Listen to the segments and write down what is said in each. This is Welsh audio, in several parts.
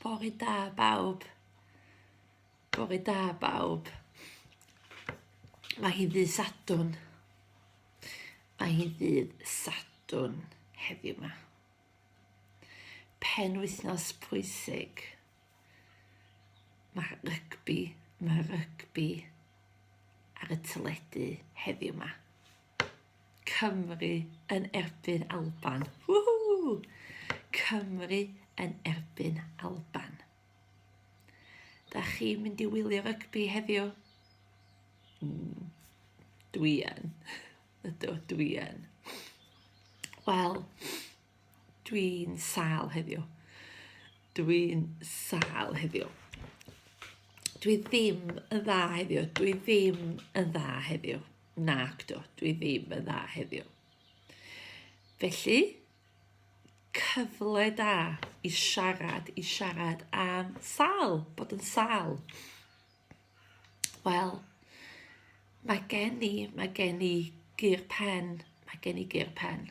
Bore da bawb. Bore da bawb. Mae hi ddydd Sadwn. Mae hi ddydd Sadwn heddiw yma. Pen wythnos pwysig. Mae rygbi, mae rygbi ar y teledu heddiw yma. Cymru yn erbyn Alban. Woohoo! Cymru yn erbyn Alban. Da chi'n mynd i wylio rygbi heddiw? Mm, dwi yn. Ydw, dwi yn. Wel, Dwi'n sal heddiw. Dwi'n sal heddiw. Dwi ddim yn dda heddiw. Dwi ddim yn dda heddiw. Nac do, dwi ddim yn dda heddiw. Felly, cyfle da i siarad, i siarad am sal, bod yn sal. Wel, mae gen i, mae gen i gyr pen, mae gen i gyr pen.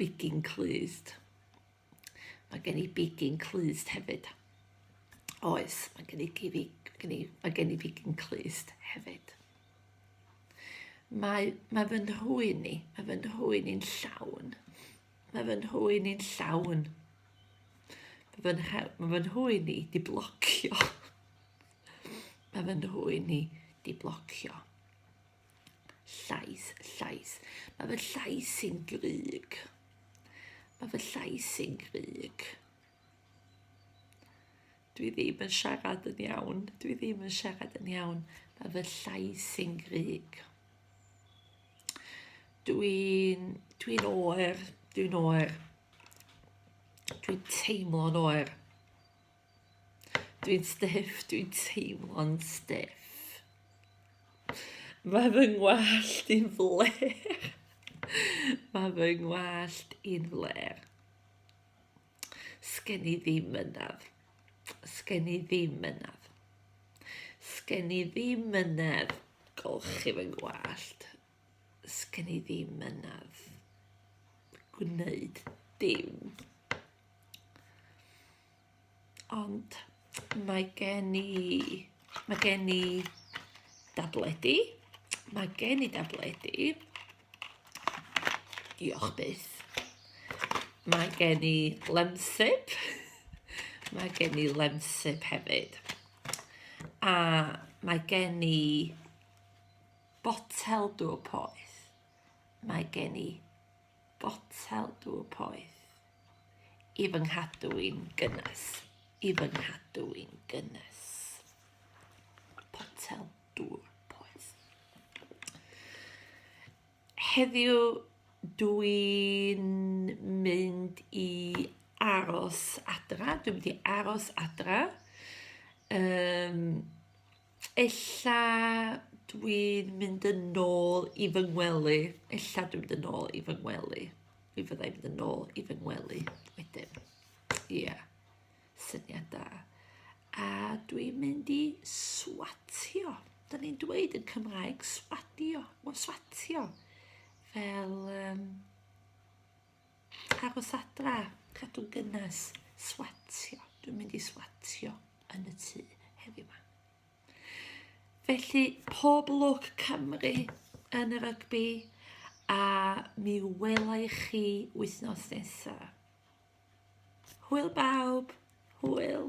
bigyn clust. Mae gen i bigyn clust hefyd. Oes, mae gen i, gen i, mae gen i bigyn clust hefyd. Mae, mae fy nhwyn i, mae fy nhwyn i'n llawn. Mae fy nhwyn i'n llawn. Mae fy, mae fy nhwyn i di blocio. mae fy nhwyn i di blocio. Llais, llais. Mae fy llais i'n grug. Mae fy llais i'n grug. Dwi ddim yn siarad yn iawn. Dwi ddim yn siarad yn iawn. Mae fy llais i'n grig. Dwi'n dwi oer. Dwi'n oer. Dwi'n teimlo'n oer. Dwi'n stiff, dwi'n teimlo'n stiff. Mae fy ngwallt i'n fler. Mae fy ngwallt i'n fler. Sgen i ddim mynedd. Sgen i ddim mynedd. Sgen i ddim mynedd. Golchi fy ngwallt. Sgen i ddim mynedd. Gwneud dim. Ond mae gen i... Mae gen i dabledi. Mae gen i dabledi. Diolch byth. Mae gen i lemsip. Mae gen i lemsip hefyd. A mae gen i botel dŵr poeth. Mae gen i botel dŵr poeth i fy nghadw i'n gynnes, i fy nghadw i'n gynnes. Potel dŵr poeth. Heddiw dwi'n mynd i aros adra, dwi'n mynd i aros adra. Um, ella dwi'n mynd yn ôl i fy ngwely, ella dwi'n mynd yn ôl i fy ngwely. Mi fydda i'n mynd yn ôl i fy ngwely wedyn. Ie, yeah. syniad da. A dwi'n mynd i swatio. Da ni'n dweud yn Cymraeg swatio. Wel, swatio. Fel, um, Aros adra, cadw gynnes, swatio. Dwi'n mynd i swatio yn y tŷ heddiw yma. Felly, pob lwc Cymru yn y rygbi a mi wela i chi wythnos nesaf. Hwyl bawb, hwyl.